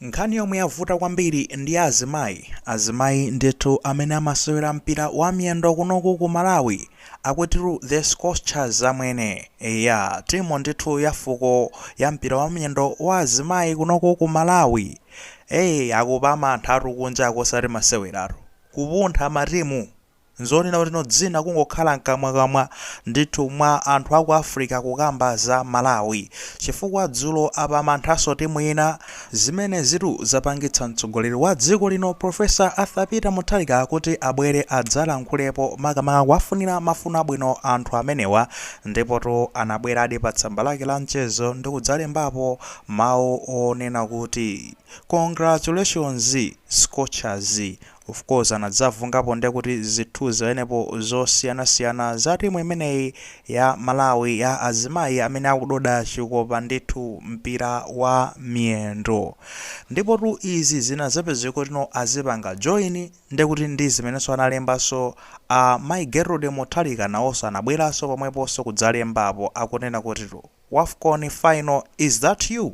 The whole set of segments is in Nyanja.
Nkhani yomwe yavuta kwambiri ndi ya azimayi. Azimayi ndithu amene amasewera mpira wa miyendo kunoku ku Malawi. Akutiru the Scorchers amwene. Eya, timu ndithu ya fuko ya mpira wa miyendo wa azimayi kunoku ku Malawi. Ee, akuphamanthatu kunjako osati maseweratu. Kupuntha matimu. Nzonena kutino dzina kungokhala mkamwakamwa ndithu mwa anthu aku Africa kukamba za Malawi chifukwa dzulo aphamanthaso timu ina. Zimenezitu zapangitsa mtsogoleri wa dziko lino Prof Arthur Peter Mutharika kuti abwere adzalankhulepo makamaka kuwafunira mafuno abwino anthu amenewa ndipotu anabweradi pa tsamba lake la mchezo ndikudzalembapo mawu onena kuti Congratulations Scorchers Of course anadzavungapo ndekuti zithuzi zawo penepo zosiyana siyana za timu imeneyi ya Malawi ya azimayi amene akudoda chikopa ndithu mpira wa miyendo ndipotu izi zinazapezeka kutino azipanga join ndekuti ndizimenenso analembaso a Mai Gertrude Mutharika nawoso anabwelaso pomweposo kudzalembapo akunena kutitu Wafcon final is that you?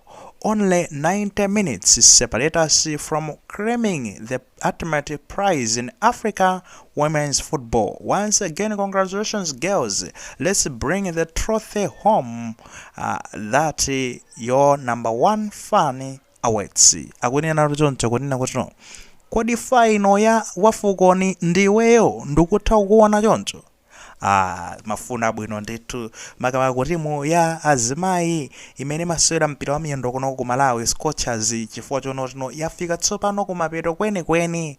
Only 90 minutes separate us from claiming the ultimate prize in Africa womens football, once again congratulations girls, let's bring the trophy home uh, that your number one fan awaits. Akunena choncho kunena kuti no. Kodi faino ya wafukoni ndiweyo ndikutha kukuona choncho? Ah, mafuno abwino ndithu makamaka ku timu ya azimayi imene imasewera mpira wa miyendo kunoku ku malawi scorchers chifukwa chonotino yafika tsopano kumapeto kwenikweni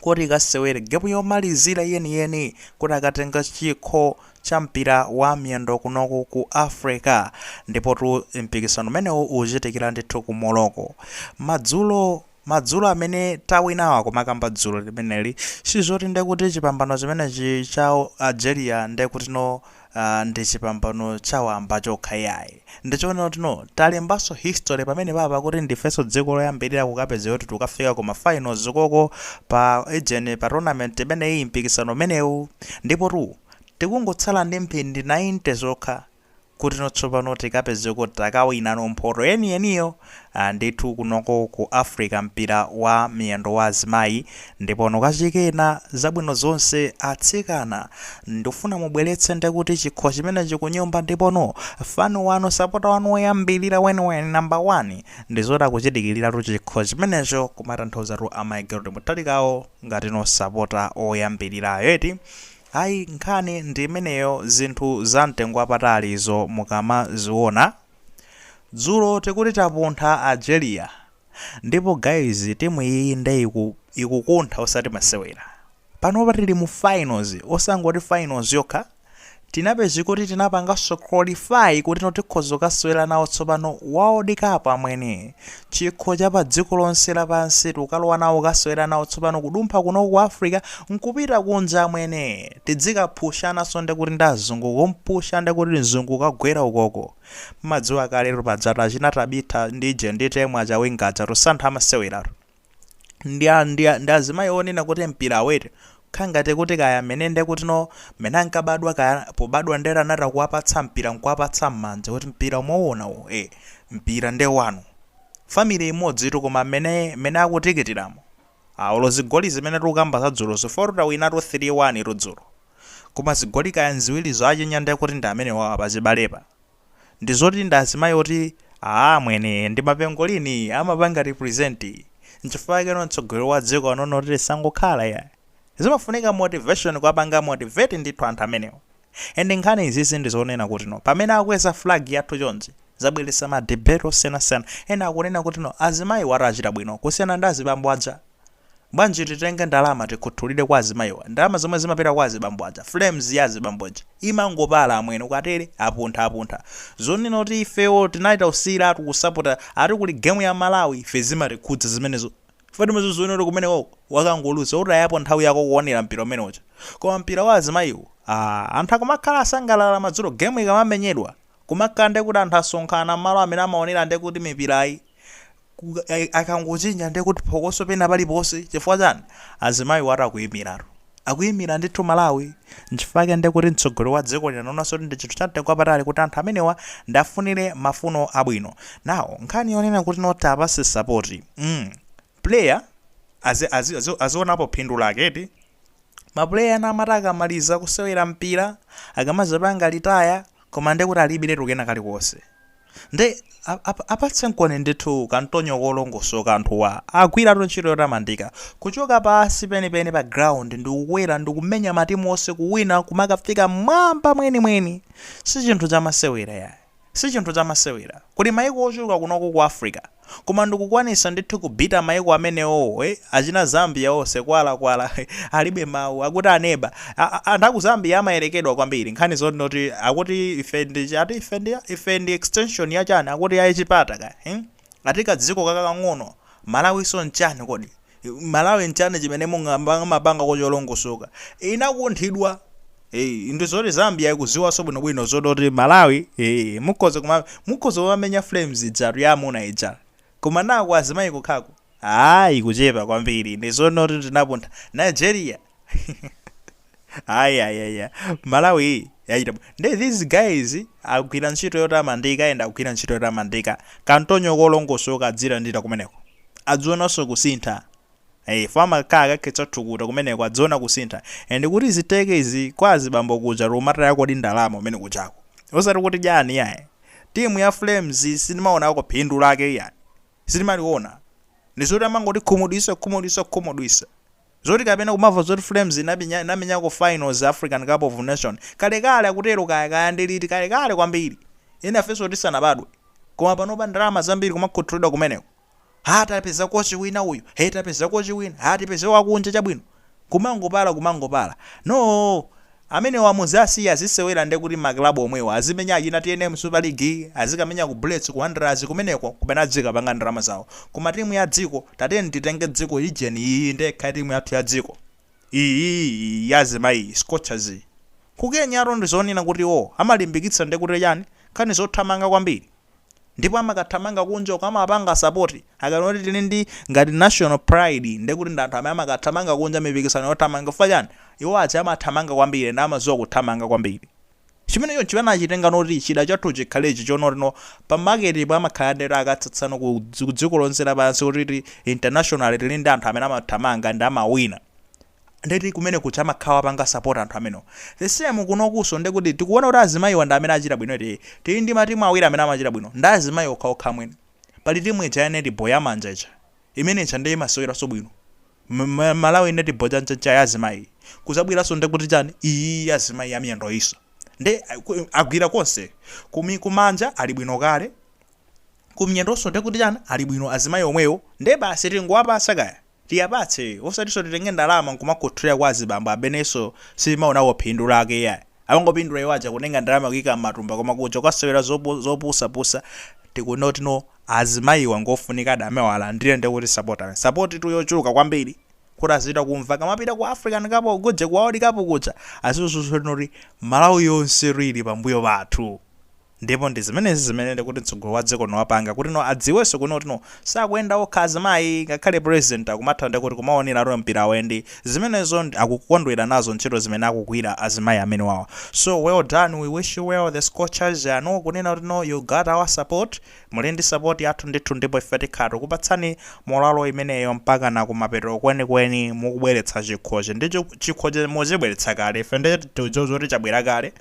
kuti ikasewere gemu yomalizira yeniyeni kuti akatenga chikho cha mpira wa miyendo kunoku ku africa ndipotu mpikisano umenewu uchitikira ndithu ku morocco madzulo Madzulo amene tawinawa kumakamba dzulo limeneli sizoti ndekuti chipambano chimenechi cha Algeria ndekutino aah ndi chipambano cha wamba chokha iyayi. Ndichoona kutino talembanso history pamenepapa kuti ndifenso dziko loyambilira kukapezeka kuti tikukafika ku ma finals koko pa ujeni pa tournament imeneyi mpikisano umenewu. Ndipotu tikungotsala ndi mphindi 90 zokha kutino tsopano tikapezeke takawinano mphoto yeniyeniyo ah ndithu kunoko ku Africa mpira wa miyendo wa azimayi ndipo nokachikena zabwino zonse atsikana ndifuna mubweletse ndekuti chikho chimenechi kunyumba ndipono fan wanu sapota wanu oyambilira weniweni number one ndizoti akuchidikiliratu chikho chimenecho kumatanthauzatu a Mai Gertrude Mutharikawo ngatino sapota oyambilirayo eti Ayi nkhani ndi imeneyo zinthu za mtengo wapatali izo mukamaziona. Dzulo tikuti tapuntha Algeria ndipo guys timu iyiyi nde ikukuntha osati masewera. Panopa tili mu finals osangoti finals yokha tinapeza kuti tinapanganso qualify kutino tikhoza kukasewera nawo tsopano world cup amwene. chikho cha padziko lonse lapansi tikukalowa nawo kukasewera nawo tsopano kudumpha kuno ku africa nkupita kunja amwene tidzikaphushanaso ndekuti ndi azungu kumpusha ndekuti mzungu kukagwera ukoko mumadziwa kaletu pajatu achina tabitha ndi ije ndi Temwa Chawinga aja tu si anthu amaseweratu ndi a- ndi a- ndi azimayi onena kuti mpira aute kha ngati kuti kaya mmene nde kuti no mmene ankabadwa kaya pobadwa ndere anatha kuwapatsa mpira nkuwapatsa mmanja kuti mpira umaona uwu e mpira nde wanu family imodzitu koma mmene mmene akutikitiramu a olo zigoli zimene tikukamba za dzulozo zofira tawinatu 3 1 tu dzulo koma zigoli kaya nziwirizo achinya nde kuti ndi amenewawa pachibalepa ndizoti ndi azimayi oti aah amwene ndi mapengolini amapanga represent nchifukwa chake no mtsogoleri wa dziko anaona kuti tisangokhala yayi zimafunika motivation kuwapanga motivate ndithu anthu amenewa and nkhani izizi ndizonena kuti no pamene akweza flag yathu chonchi zabweretsa ma debate osiyanasiyana ena akunena kuti no azimayiwatu achita bwino kusiyana ndi azibambo aja Bwanji titenge ndalama tikhuthulire kwa azimayiwa? Ndalama zomwe zimapita kwa azibambo aja? Flames ya azibambo ija imangopala amwene ukatere apunthwa apunthwa. Zonena kuti ifeyo tinali tausiyiratu kusapota ati kuli game ya Malawi ife zimatikhudza zimenezo? Flames uziwone kuti kumenekoko wakangoluza utayapo nthawi yako kuonera mpira umene uja. Koma mpira wa azimayiwu aah anthu akumakhala asangalala madzulo game ikamamenyedwa kumakhala ndekuti anthu asonkhana mmalo amene amaonera ndekuti mipirayi akangochinya ndiye kuti phokoso pena paliponse chifukwa chani azimayiwatu akuyimiratu akuyimira ndithu malawi nchifukwa chake ndiye kuti mtsogoleri wa dziko lino anaonanso kuti ndi chinthu cha mtengo wapatali kuti anthu amenewa ndafunire mafuno abwino nawo nkhani yonena kuti no tiwapatse sapoti mm. player azi- azi- azi- azionapo phindu lake eti mapuleya ena amati akamaliza kusewera mpira akamazapanga retire Koma nde kuti alibiretu kena kalikonse. Nde apatsenkoni ndithu kantonyo kolongosoka anthuwa agwiratu ntchito yotamandika. Kuchoka pansi penipeni pa ground ndikukwera ndikumenya matimu onse kuwina kumakafika mmwamba mwenimweni. Sichinthu chamasewera yayi. Sichinthu chamasewera. Kuli maiko ochuluka kunoko ku Africa. Koma ndikukwanisa ndithu ku beat-a maiko amenewowo eh achina Zambia onse kwala kwala alibe mau akuti aneba aa anthu aku Zambia amayelekedwa kwambiri nkhani zoti no akuti ife ndi ati ife ndi ife ndi extension ya chani akuti ya chipata kaya hmm ati kadziko kakang'ono Malawiso nchani kodi malawi nchani chimene mumapangako cholongosoka? inakunthidwa ee ndi zoti zambia ikuziwaso bwino bwino zoti oti malawi ee mukhoza kuma mukhoza kumamenya flames ijatu ya amuna ija koma no ku azimayi kokhako aa ikuchepa kwambiri ndi zonena kuti tinapuntha nigeria ayi ayi malawi yachita bwino nde these guys agwira ntchito yotamandika and agwira ntchito yotamandika kantonyo kolongosoka adzilandira kumeneko adzionanso kusintha Eh, fa amakhala akakhetsa thukuta kumeneko adziona kusintha and kuti ziteke izi kwa azibambo kuja tikumata yako ndi ndalama umene kujako osati kuti chani iyayi timu ya flames sindimaonako phindu lake iyayi sitimaliwona ndizoti amangotikhumudwitsa kukhumudwitsa kukhumudwitsa zoti kapena kumamva zoti flames ina inamenyako finals african cup of nation kalekale akutero kaya kaya ndi liti kalekale kwambiri enafenso tisanabadwe koma panopa ndalama zambiri kumakhuthulidwa kumeneko ha tapeza kochi wina uyu he tapeza kochi wina ha tipeze wakunja chabwino Kumangopala kumangopala. Noo! Amenewa muziwasiya azisewera nde kuti ma club omwewo azimenya achina tnm super league, azikamenya ku Bullets ku Wanderers kumeneko kumene adzikapanga ndalama zawo. Koma timu ya dziko tatiyeni titenge dziko ija ndi iyiyi nde ikhale timu yathu ya dziko. Iyii iyi ya azimayi iyi, Scorchers iyi. Ku Kenyatu ndizonena kuti iwowo amalimbikitsa nde kuti chani? Nkhani zothamanga kwambiri. ndipo amakathamanga kunja uko amawapanga sapoti akamati kuti tili ndi ngati national pride ndiye kuti ndi anthu amene amakathamanga kunja mipikisano yothamanga chifukwa chani iwo aja amathamanga kwambiri ndi amadziwa kuthamanga kwambiri chimenecho ndi chimene anachitenga noti chida chathu chikhalechi choti no pa market po amakhala ndeti akutsatsano ku dzi- ku dziko lonse lapansi kuti ti international tili ndi anthu amene amathamanga ndi amawina ndeti kumene kuja amakhala akuwapanga support anthu amenewo the same kunokunso ndekuti tikuwona kuti azimayiwa ndi amene achita bwino eti tili ndi matimu awiri amene amachita bwino ndi azimayi okhaokha amwene pali timu ija ya netball ya manja ija imene ija nde imaseweranso bwino malawi netball chanchacha ya azimayi iyi kudzabweranso ndekuti chani iyi ya azimayi ya miyendo iyinso nde aku- agwira konse kumi kumanja ali bwino kale kumyendonso ndekuti chani ali bwino azimayi omwewo nde basi tingowapatsa kaya Tiwapatse osatinso titenge ndalama nkumakhuthulira kwa azibambo amenenso sitimaonako phindu lake iyayi. Amangopindula iwo aja kutenga ndalama kuika mmatumba koma kuja kukasewera zopusa pusa tikuti no azimayiwa ngofunikadi amenewa alandire ndekuti sapota kani sapoti tu yochuluka kwambiri kuti azitha kumva akamapita ku African cup of kudzi ku world cup kuja azidziwa zoti noti Malawi yonse tu ili pambuyo pathu. Ndipo ndi zimenezi zimene nde kuti mtsogoleri wa dziko lino wapanga kuti no adziwenso kuno kuti no sakuyenda okha azimayi ngakhale president akumatha nde kuti kumaonera mpirawo and zimenezo akukondwera nazo ntchito zimene akugwira azimayi amenewawa so well done we wish you well the Scorchers I know kunena kuti no you got our support muli ndi support yathu ndithu ndipo ife tikhala tikupatsani moralo imeneyo mpakana kumapeto kwenikweni mukubweretsa chikhochi ndi chikhochi mwachibweretsa kale ife nde tikudziwa zoti chabwera kale